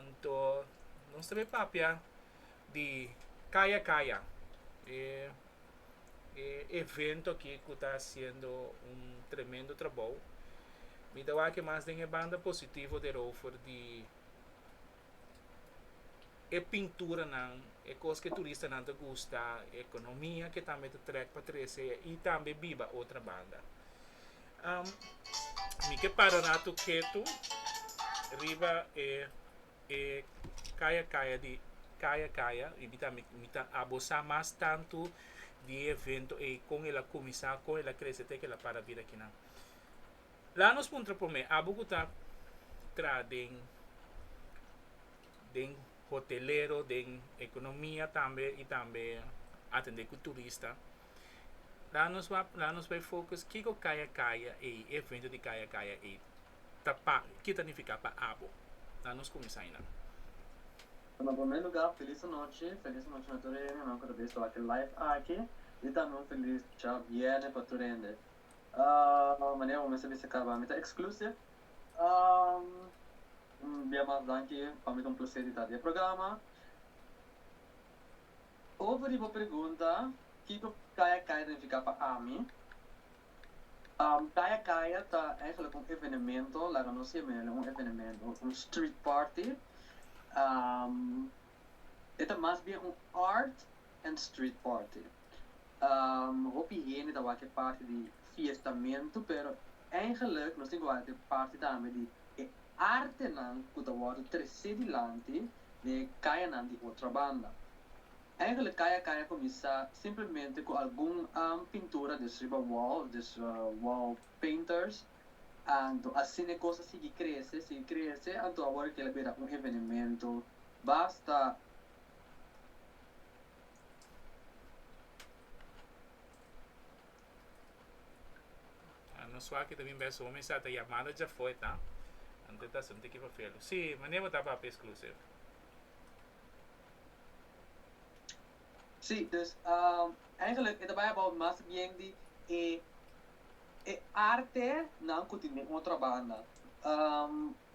Anto nos ta bay papia di kaya kaya. E evento aki cu ta haciendo un tremendo trabou. Mi ta wak mas den e banda positivo derover di e pinturanan, e cos cu e turistanan ta gusta, e economia cu tambe ta trek pa trece y tambe biba otra banda. Mi ke para ratu ketu riba e e kaya kaya di kaya kaya riba ta mi ta abosá mas tantu di e evento ei kon el a kuminsá kon el a krese te ku el a para bira akinan la nos puntra promé abo ku ta tra den den hotelero den ekonomia tambe i tambe atendé ku turista. La nos wak, la nos bai focus kiko kaya kaya ei, evento di kaya kaya ei ta pa, ke ta nifiká pa abo. La nos kuminsá ainan. Bueno, en primer lugar feliz anochi, feliz anochi na tur hende nan ku ta bisa wak e live aki i tambe un feliz dicha bierne pa tur hende. Manera bo mester bisa kaba mi ta exclusive. Un bia mas danki, pa mi ta un placer di ta di e programa. Over riba pregunta kiko Kaya Kaya nifiká pa ami, Kaya Kaya ta eigenlijk un evenemento, laga nos siña manera di un evenemento, un street party. E ta mas bien un art and street party. Hopi hende ta wak e party di fiestamentu, pero eigenlijk nos tin ku wak e party tambe di e artenan ku ta wòrdu tresé dilanti. den e kayanan di otra banda. Eigenlijk kaya kaya kuminsá simplemente ku algun pintura des riba wall, des wall painters, anto asina e kos a sigui krese, sigui krese, anto awor kel a bira un evenemento basta. Ah, nos waki ta bin bes homi sa ta yamada dja foi ta. Ante ta sinti ki fafelu. Si, mane bo ta papia exclusive? Sí, dus eigenlijk e ta bai about mas bien di e e arte nan ku tin den otro banda.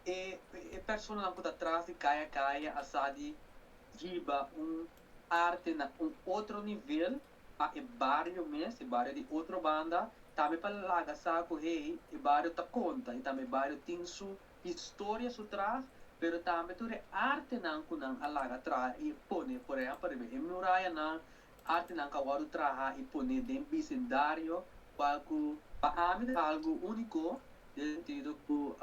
E e personanan ku ta tras di kaya kaya a sa di hiba un arte na un otro nivel. pa e bario mes, e bario di otro banda, tambe pa laga sa ku hey, e bario ta konta y tambe e bario tin su historia su traha, pero tambe tur e artenan ku nan a laga traha y e pone, por ehempel riba e murayanan, artenan ku a wòrdu traha y pone den bisindario, kual ku pa ami ta algu úniko, den sentido ku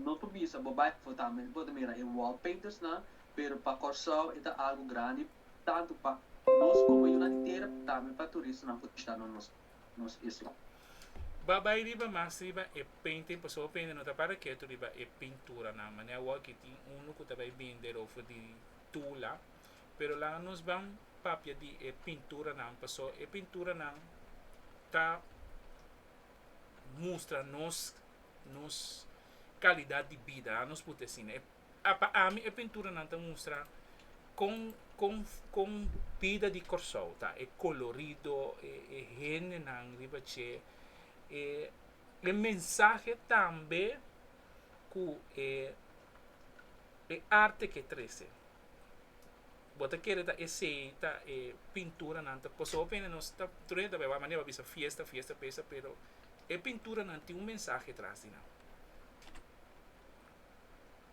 no por bisa bo bai afó tambe bo ta mira e wall paintersnan, pero pa Kòrsou e ta algu grandi. tantu pa nos komo yunan di tera tambe pa turistanan por bishita nos nos isla. Ba bai riba mas riba e painting pasobra hopi hende no ta para ketu riba e pinturanan manera awor aki tin unu ku ta bai bende rofe di Tula pero laga nos ban papia di e pinturanan pasobra e pinturanan ta mustra nos nos kalidad di bida a nos puti asina. a pa ami e pinturanan ta mustra con con con bida di Corsou ta, e colorido, e e hendenan riba dje, e e mensahe tambe cu e e arte ke trece. Bo ta kere ta esey ta e pinturanan ta, pasobra bo bieni nos ta tur hende ta bay manera bo a bisa fiesta, fiesta, fiesta pero e pinturanan tin un mensahe tras di nan.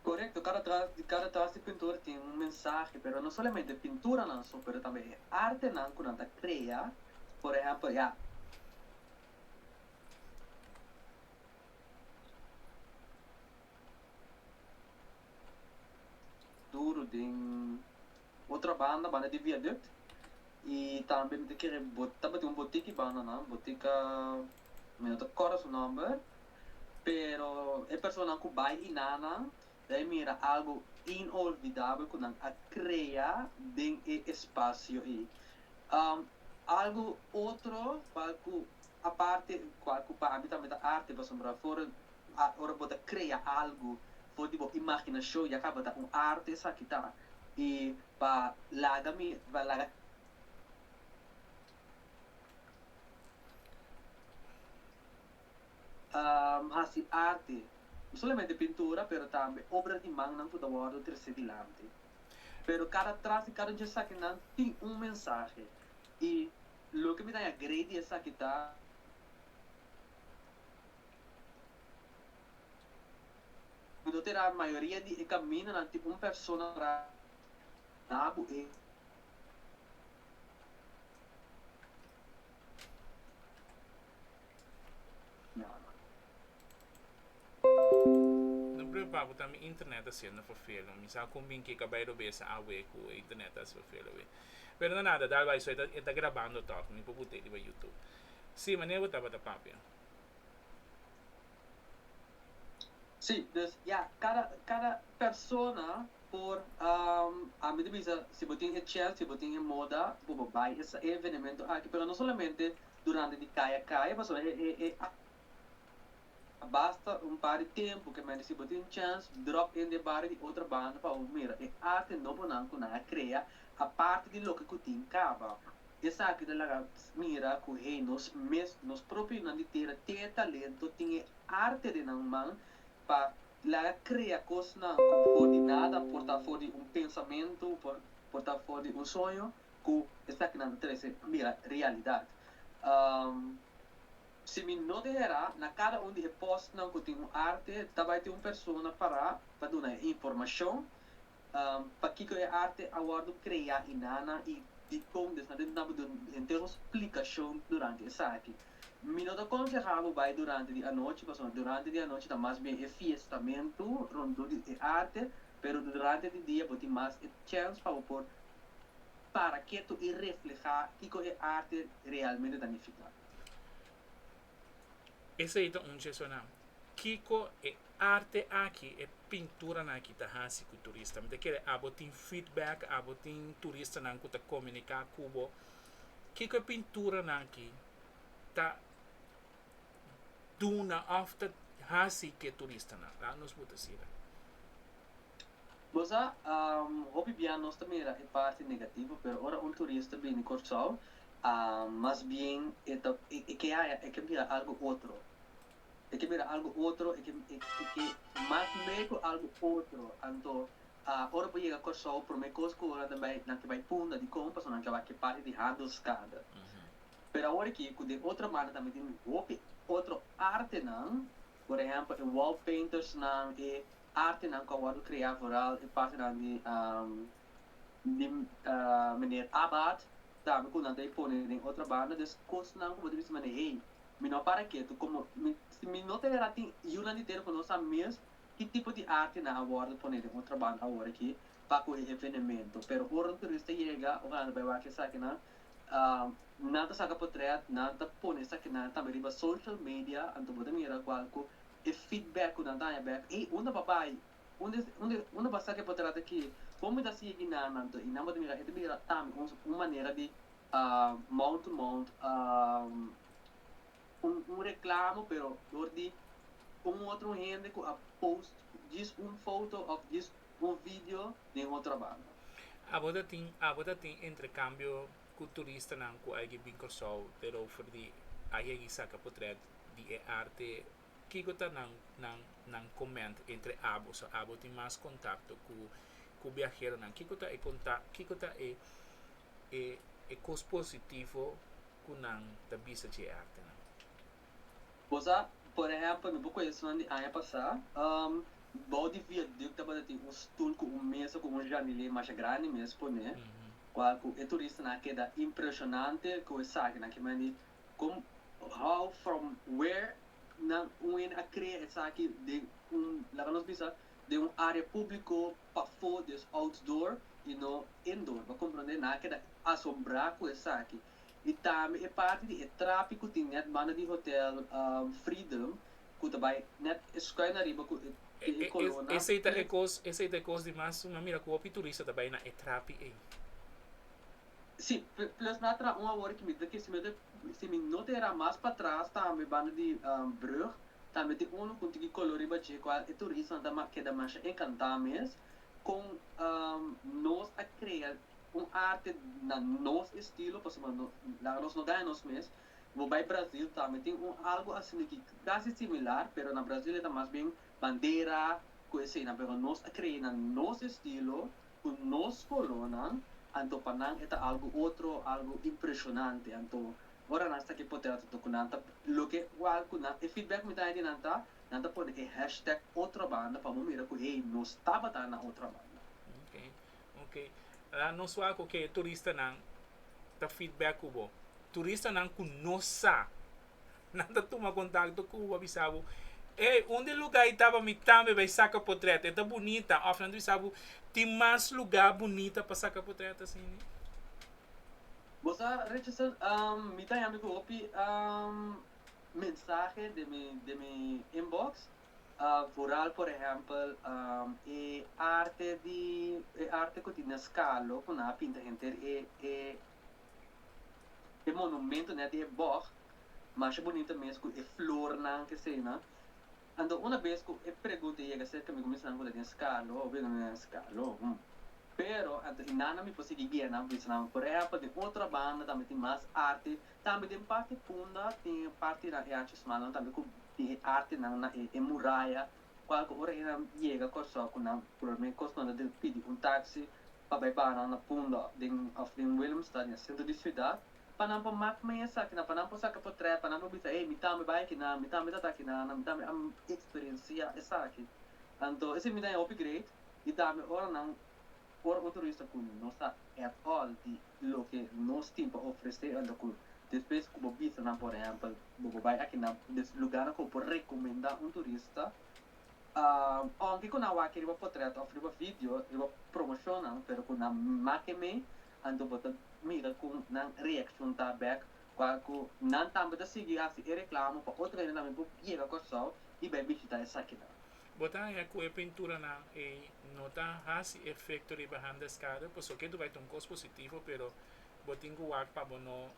Korekto, kada tras di kada tras di pintura tin un mensahe, pero no solamente pinturanan so, pero tambe e artenan ku nan ta krea, por ehèmpel ya, duru den otra banda, banda di viaduct, i tambe mi ta kere bota, tabatin un botiki banda nan, botika, mi no ta kòrda su nòmber, Pero e personanan ku bai i na nan ta e mira algu inolvidabel ku nan a krea den e espasio ei. Algu otro kual ku aparte kual ku pa mi tambe ta arte pasobra for ora bo ta krea algu for di bo imaginashon ya kaba ta un arte esaki ta i pa laga mi pa laga a hasi arti, no solamente pintura, pero tambe obra di mannan ku ta wòrdu tresé dilanti. Pero kada tras di kada un di esakinan tin un mensahe, i loke mi ta haña grei di esaki ta, mi no tira mayoria di e kamindanan tin un persona tra na bo e. No preocupa cu ta mi internet ta siendo fafelo. Mi sa con bin keka bay robee sa awe cu e internet ta haci fafelo wee. Pero no nada, dal bay so e ta e ta grabando toch. Mi por bute riba YouTube. Si, mane bo tabata papia? Si, dus ya cada cada persona por a mi ta bisa si bo tin e chel, si bo tin e moda por bo bay e evenemento aki. Pero no solamente durante di kaya kaya pasobra e a basta un par di tempu ke mester si bo tin chèns dròp in den bario di otro banda pa bo mira e arte nobonan ku nan a krea aparte di loke ku tin kaba. Esaki ta laga mira ku hei nos mes nos propio yunan di tera te talento tin e arte den nan man pa laga krea kosnan ku for di nada por ta for di un pensamentu por ta for di un soño. cu esakinan ta trece mira realidad. Si mi no ta era, na cada un di e postnan cu tin un arte ta bay tin un persona para pa duna e informacion pakico e arte a wordo crea y nana y dicon despues tin nan por duna henter un splicacion durante esaki. Mi no ta conseha bo bay durante di anochi pasobra durante di anochi ta mas bien e fiestamento rondó di e arte pero durante di dia bo tin mas e chance pa bo por para ketu i reflehá kiko e arte realmente ta nifiká. Esei ta un chesonan. Kiko e arte aki, e pinturanan aki ta hasi ku turista? Mi ta kere abo tin feedback, abo tin turistanan ku ta komuniká ku bo. Kiko e pinturanan aki ta duna òf ta hasi ku e turistanan? Laga nos bo ta sira. Bo sa, hopi bia nos ta mira e parti negativo, pero ora un turista bini Kòrsou, mas bien e ta, e ke haña, e ke mira algu otro. E ke mira algu otro, e ke, e ke mas lei ku algu otro. Anto, ora bo yega Kòrsou, promé kos ku nan ta bai, nan ke bai punta dikon, pasobra nan ke bai ke parti di Handelskade. Pero awor aki, ku den otro banda tambe tin hopi otro artenan, por ehèmpel, e wall paintersnan, e artenan ku a wòrdu kreá vooral e partenan di di Meneer Abaat, tambe ku nan ta pone den otro banda. Dus kosnan ku bo ta bisa manera hey, mi no a para ketu komo mi si mi no ta wèra tin yunan di tera ku no sa mes ki tipo di artenan a wòrdu pone den otro banda awor aki pa ku e evenemento. Pero ora un turista yega ora nan ta bai wak esakinan nan ta saka potrèt, nan ta pone esakinan tambe riba social media, anto bo ta mira kual ku E feedback cu nan daña bek, Ey, unda bo a bay? Unda es, unda, unda bo a saca e potrero aki? Como mi ta sigui nan, nan to? Y nan bo ta mira, e ta bira ta mi, un, un manera di, ah, mouth to mouth, ah, un, un reclamo, pero dor di un otro hende cu a post djis un foto of djis un video den otro banda. Abo ta tin, abo ta tin entrecambio cu turistanan cu a yegi bin Curaçao, pero over di a yegi saca potret. di e arte, kiko ta nan nan nan koment entre abo? So abo tin mas kontakto ku ku biaheronan. Kiko ta e kontak kiko ta e e e kos positivo ku nan ta bisa dje e artenan? Bo sa, por ehèmpel, mi por kue esunnan di aña pasá. Bou di viadùkt tabata tin un stul ku un mesa ku un jandilier masha grandi mes poné, kual ku e turistanan a keda impreshonante ku e sakinan kiman di Con, how, from, where nan un hende a crea esaki den un, laga nos bisa, den un area publico pafo, dus outdoor y no indoor. Bo a comprende? Nan a keda asombra cu esaki. Y tambe e parti di e trapi cu tin net banda di Hotel Freedom cu ta bay net escui na riba cu e tin e colona. Esey ta e cos, esey ta e cos di mas, nan mira cu hopi turista ta bay na e trapi ey. Sí, plus mi a traha un awor ki mi ta ke si mi ta si mi no ta e ra mas patras tambe banda di Brug tambe tin uno con tin ki color riba dje cual e turistanan ta mas keda masha encanta mes con nos a crea un arte na nos estilo pasobra no laga nos no gana nos mes bo bay Brazil tambe tin un algo asina ki casi similar pero na Brazil e ta mas bien bandera cu esayinan pero nos a crea na nos estilo cu nos colonan, anto pa nan e ta algo otro, algo impresionante. Anto, ora nan sta ki pote anto cu nan ta, loke cual cu nan, e feedback mi dai di nan ta, nan ta pone e hashtag otra banda pa bo mira cu ey, nos tabata na otra banda. Ok, ok. Ahora nos wak cu ke turistanan ta feedback cu bo. Turistanan cu no sa Nan ta tuma kontakto ku bo pa bisa bo, Ey, un di lugá ei taba mi tambe bai saka potrèt, e ta bunita. Òf nan ta bisa bo, Tin mas lugá bunita pa saka potrèt asina? Bo sa, Richardson, mi ta yami ku hopi mensahe den mi inbox, vooral por ehèmpel e arte di, e arte ku tin den skalo ku nan a pinta henter, e, e, E monumento net di e bòg masha bunita mes ku e flornan k'eseinan. Anto una bes ku e pregunta a yega serka mi ku mi sa nan ku ta den Scarlo o bira no den Scarlo, hum. Pero anto i nana mi por sigui guia nan bisa nan por ehèmpel den otro banda tambe tin mas arte, tambe den parti punda tin partinan e achi smalnan tambe ku tin e artenan na e muraya. Kualke ora e nan yega Kòrsou ku nan purmé kos nan ta di pidi un taksi pa bai baha nan na Pundòk den òf den Willemstad den e sentro di siudat pa nan por mak mei esakinan pa nan por saka potrèt pa nan por bisa ey mi tambe bai akinan mi tambe ta ta akinan mi tambe a eksperensia esaki anto e simbidad e hopi great i tambe ora nan Ora un turista cu no sa at all di loke nos tin pa ofrece unda cu despues cu bo bisa nan por ehempel bo bo bay aki nan des lugarnan cu bo por recomenda un turista aunke cu nan wak riba potret of riba video riba promocionnan pero cu nan make mee anto bo ta mira cu nan reaccion ta bek cual cu nan tambe ta sigui haci e reclamo pa otro hende tambe por yega Kòrsou y bay bishita esakinan. Bo ta haña ku e pinturanan ei no ta hasi efekto riba handeskade, pasobra ke ta bai ta un kos positivo, pero bo tin ku wak pa bo no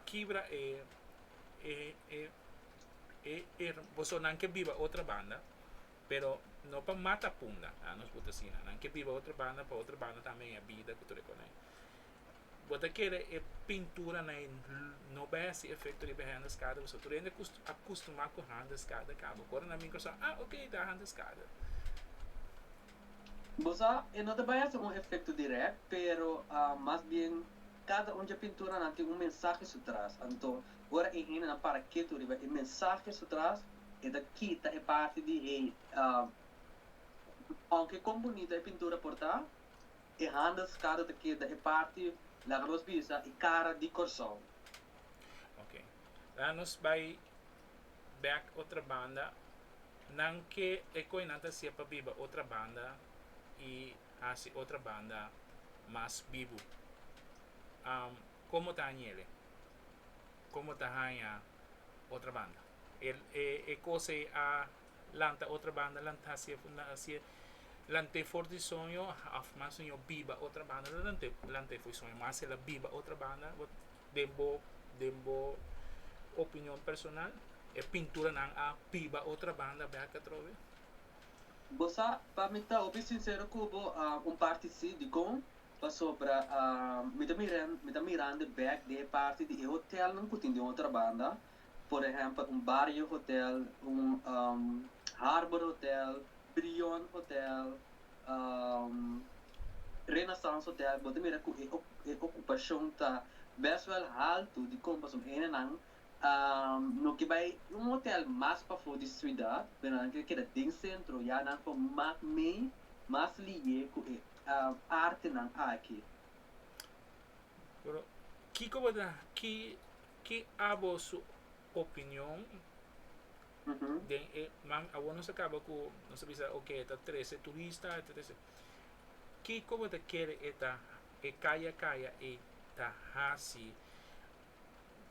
kibra e e e e e boso nan ke biba otro banda, pero no pa mata punda, a nos por ta asina, nan ke biba otro banda pa otro banda tambe haña bida ku tur e konai. Bo ta kere e pintura na e no behe si efecto riba e hende skada pasobra tur hende a custumá cu hende skada ka. Bo kore na micro sa ah ok ta hende skada. Bo sa e no ta bai hasi un efecto direct pero mas bien cada un dje pinturanan tin un mensahe su tras anto ora e hendenan para ketu riba e mensahe su tras e ta kita e parti di hate aunke con bunito e pintura por ta. E handelskado ta keda e parti laga nos bisa e kara di Kòrsou. Oke. Laga nos bai bèk otra banda. Nan ke e koi nan ta hasié pa biba otra banda i hasi otra banda mas bibu? Am, komo ta hañele? Komo ta haña otra banda? E, e, e kos ei a lanta otra banda lanta si e lant'e for di soño of mas no yo biba otra banda lo lant'e lant'e for di soño mas ela biba otra banda bo den bo den bo opinion personal e pinturanan a biba otra banda bek atrobe. Bo sa pa mi ta hopi sincero cu bo un parti si dicon pasobra mi ta mirando mi ta mirando bek di e parti di e hotelnan cu tin den otra banda Por ehempel un Barrio Hotel, un Harbor Hotel, Brion Hotel, Renaissance Hotel, bo ta mira cu e ocupacion ta best wel halto di compason enenan a no ke bay un hotel mas pafo di ciudad, pero nan ker keda den centro, ya nan por mak mey mas liye cu e artenan aki. Pero kico bo ta haki Ki a boso opinion den e man? Awor nos a kaba ku nos a bisa oke e ta trese turista, e ta trese. Kiko bo ta kere e ta e kaya kaya ei ta hasi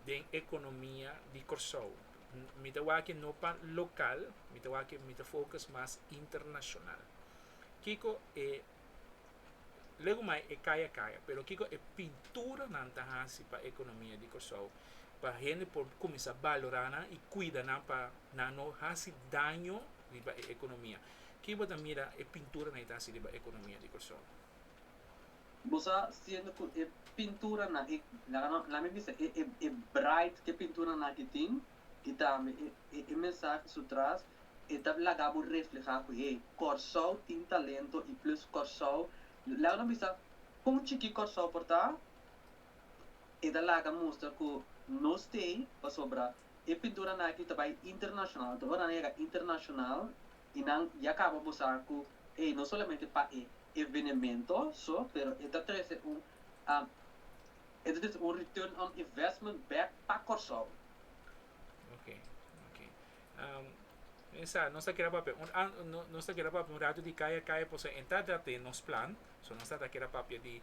den ekonomia di Kòrsou? Mi ta wak aki no pa lokal, mi ta wak aki mi ta fokus mas internashonal. Kiko e Lego mai e kaya kaya, pero kiko e pinturanan ta hasi pa ekonomia di Kòrsou, pa hende por kuminsá balorá nan i kuida nan pa nan no hasi daño riba e ekonomia? Ke bo ta mira e pinturanan e ta hasi riba ekonomia di Kòrsou? Bo sa siendo ku e pinturanan, e laga nan laga mi bisa e e braight ku e pinturanan aki tin, y tambe e mensahe su tras e ta laga bo refleha cu hey Corsou tin talento y plus Corsou laga no bisa con chiki Corsou por ta e ta laga mustra cu no stay pasobra e pintura na aki ta bay internacional te ora nan yega internacional y nan ya caba bo sa cu hey no solamente pa e evenemento so pero e ta trece un It is un return on investment back pa Corsou. Ok, ok. Um, men sa, nos ta kira papia. Un, an, no, nos ta kira papia un radio di kaya kaya, por sa enta dat e nos plan, so nos ta ta kira papia di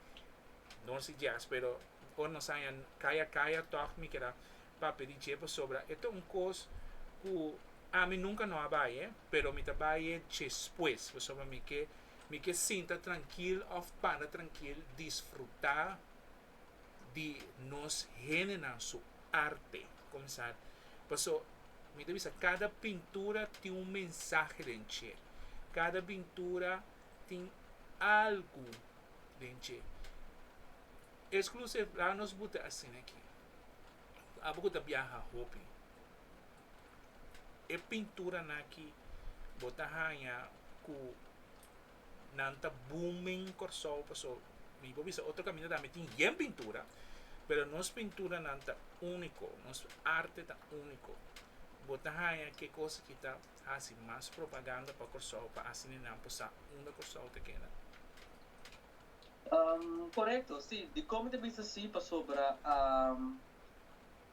Norsi Jazz, pero ora nos anja kaya kaya, toch mi kira papia di dje, pasobra e ta un kos ku ami nunka no a baie, pero mi ta baie despues, pasobra mi ke mi ke sinta trankil òf para trankil disfrutá di nos hendenan su arte comenzar. Paso, mi ta bisa, cada pintura tin un mensahe den dje. Cada pintura tin algu den dje. Exclusive, laga nos buta asina aki, abo cu ta biaha hopi, e pinturanan aki bo ta haña cu nan ta booming Kòrsou paso mi por bisa otro kaminda tambe tin yen pintura pero nos pinturanan ta úniko nos arte ta úniko bo ta haña ke kos aki ta hasi mas propaganda pa Kòrsou pa asina nan por sa unda Kòrsou ta keda. Korekto si dikon mi ta bisa asi pasobra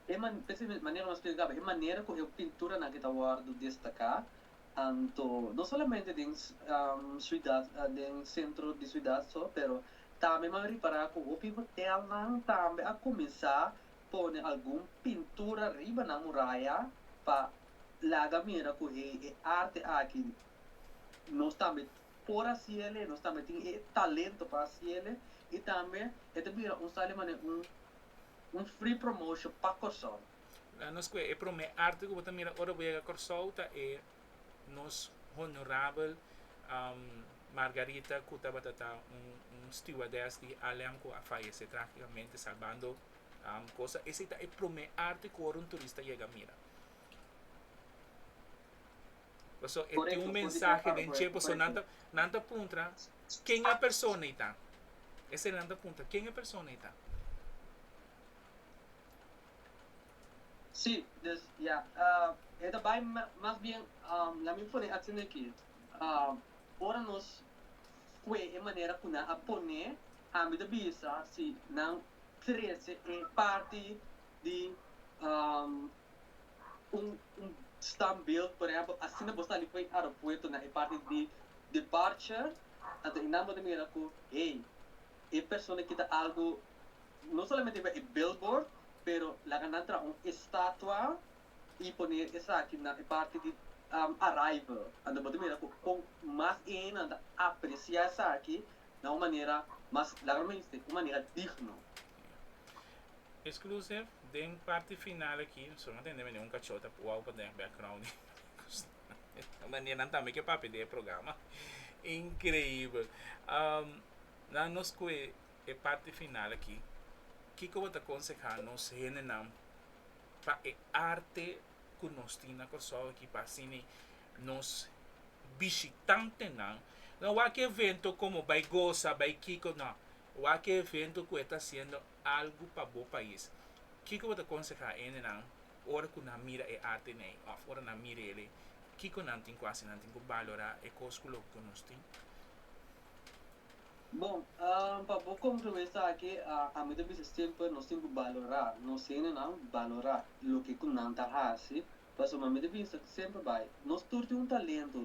e manera ku mi a spliká e manera ku e pinturanan ke ta wòrdu destaká Anto, no solamente den siudat, den sentro di siudat so, pero tambe m'an ripará ku hopi hotelnan tambe a kuminsá pone algun pintura riba nan muraya pa laga mira ku hei e arte aki nos tambe por hasiele, nos tambe tin e talento pa hasiele i tambe e ta bira un sa di manera un free promotion pa Kòrsou. La nos cu e prome arte cu bo ta mira ora bo yega Corsou ta e nos honorabel Margarita cu tabata ta un stewardess di Alliang cu a fayece tragicamente salbando cosa. Esey ta e prome arte cu ora un turista yega mira. Pasobra e tin un mensahe den che, pasobra nan ta, nan ta puntra ken e persona ey ta. Esey nan ta puntra ken e persona ey ta. Sí, des ya. E ta bai mas bien, lamin pone atsende aki, ora nos kue e manera ku nan a pone, ami ta bisa si nan trese e parti di un standbeeld, por ehempel, asina bo sali for e aeropuerto na e parti di departure, anto esnan bo ta mira ku hey, e persona aki ta algu No solamente riba e billboard pero laga nan traha un estatua y pone esaki na e parti di arrival ante bo ta mira cu con mas eenan ta aprecia esaki na un manera mas laga no mester un manera digno. Exclusive, Den parti final aki, solo nan tende mende un cachot a wou pa den background di Gustavo. Mane nan tambe ke papia di e programa. Increibel. Nan no scoe e parti final aki, kiko bo ta konsehá nos hendenan pa e arte ku nos tin na Kòrsou aki pa asina nos bishitantenan lo wak e evento komo bai gosa, bai kiko? No, wak e evento ku e ta hasiendo algu pa bo pais. Kiko bo ta konsehá e hendenan ora ku nan mira e artenan ei òf ora nan mira el ei? Kiko nan tin ku hasi? Nan tin ku balorá e kos ku loke ku nos tin? Bon, pa bo conclui esaki, ami ta bisa semper nos tin cu balora nos hendenan, balora loke cu nan ta haci, pasobra mi ta bisa semper bay, nos tur tin un talento,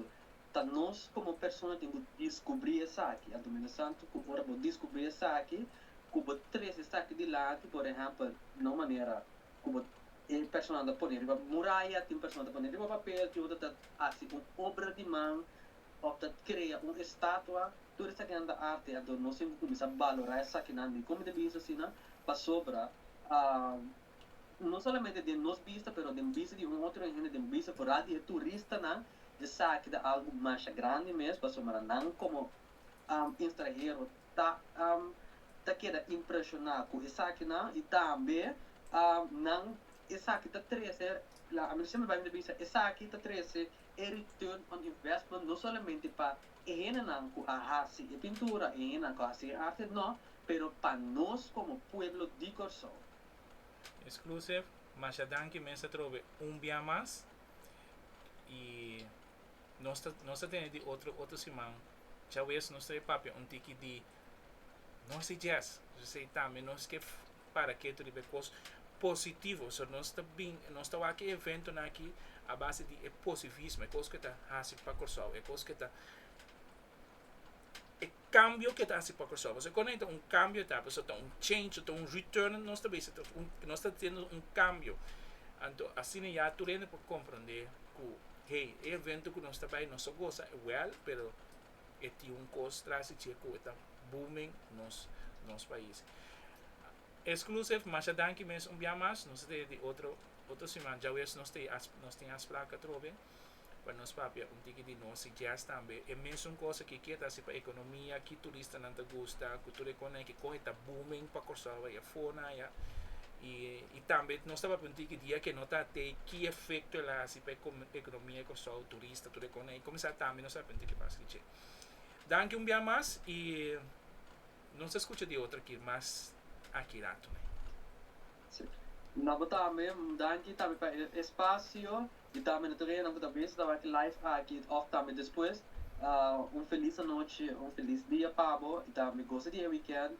ta nos como persona tin cu discubri esaki, anto mi ta sa cu ora bo discubri esaki, cu bo trece esaki dilanti, por ehempel, na un manera cu bo tin personanan ta pone riba muraya, tin personanan ta pone riba papel, tin otro ta haci un obra di man of ta crea un estatua, Tur esakinan ta arte, anto nos tin ku kuminsá balorá esakinan di komo ta bisa asina, pasobra no solamente den nos bista pero den bista di un otronan hende, den bista foral di e turistanan, esaki ta algu masha grandi mes, pasobra nan komo estranhero ta ta keda impreshoná ku esakinan i tambe nan esaki ta trese, la ami siempre bai mi ta bisa esaki ta trese E return on investment no solamente pa e hendenan ku a hasi e pintura, e hendenan ku a hasi e arte, nò, pero pa nos komo pueblo di Kòrsou. Exclusive, Masha danki mes atrobe un bia mas y nos ta nos ta tene di otro otro siman chawes nos ta e papia un tiki di Nos e djes, p'esei tambe nos ke para ketu riba e kos positivo. So nos ta bin, nos ta wak e eventonan aki a base di e posivismo, e kos ke ta hasi pa Kòrsou, e kos ke ta, e kambio ke ta hasi pa Kòrsou. Pasobra kua nan ta un kambio ta, pasobra ta un change, ta un return, nos ta bisa nos ta haciendo un kambio. Anto asina ya tur hende por komprondé ku hey e evento ku nos ta bai nos ta goza igual pero e tin un cos trasi dje cu e ta booming nos nos pais. Exclusive masha danki mes un bia mas, nos ta teye di otro otro siman djawees nos teye as nos tin aspraka atrobe pa nos papia un tiki di nosi guest tambe e mesun cos aki kia ta haci pa economia ki turistanan ta gusta cu tur e cona aki con e ta booming pa Corsou bai afo na aya y y tambe nos ta papia un tiki di e ke no ta te ki efecto el a haci pa e economia di Corsou. Is ta tur e con ey comenzar tambe nos arepenti ke pasa di dje. Danki un bia mas y nos ta scucha di otro kir mas aki rato ney. Si. Na bo tambe un danki tambe pa e espacio y tambe na tur enan cu ta bezi ta wak e live aki of tambe despues un feliz anochi un feliz dia pa bo y tambe gosa di e weekend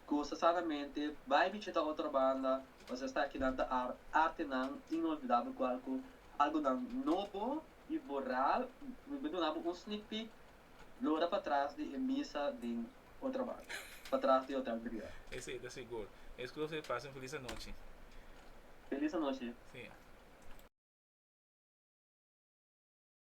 Goza sanamente, bai bichita otro banda o sea sta kinan ta ar artenan inolvidabel gual ku algonan nobo i boral mi por duna bo un sneak peek lora patras di e misa den otro banda patras di hotel briel. Ese ta sigur. Es ku lo se pasa un feliz anochi. Feliz anochi. Sí.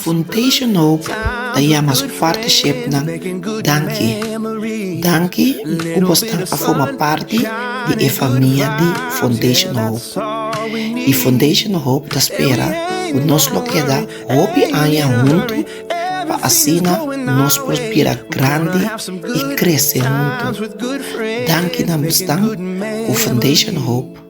Funtation Hope ta yama su partishipnan danki. Danki ku bos tan a forma parti di e famia di Funtation Hope. I Funtation Hope ta spera ku nos lo keda hopi aña huntu pa asina nos por bira grandi i krese huntu. Danki na bosnan ku Funtation Hope.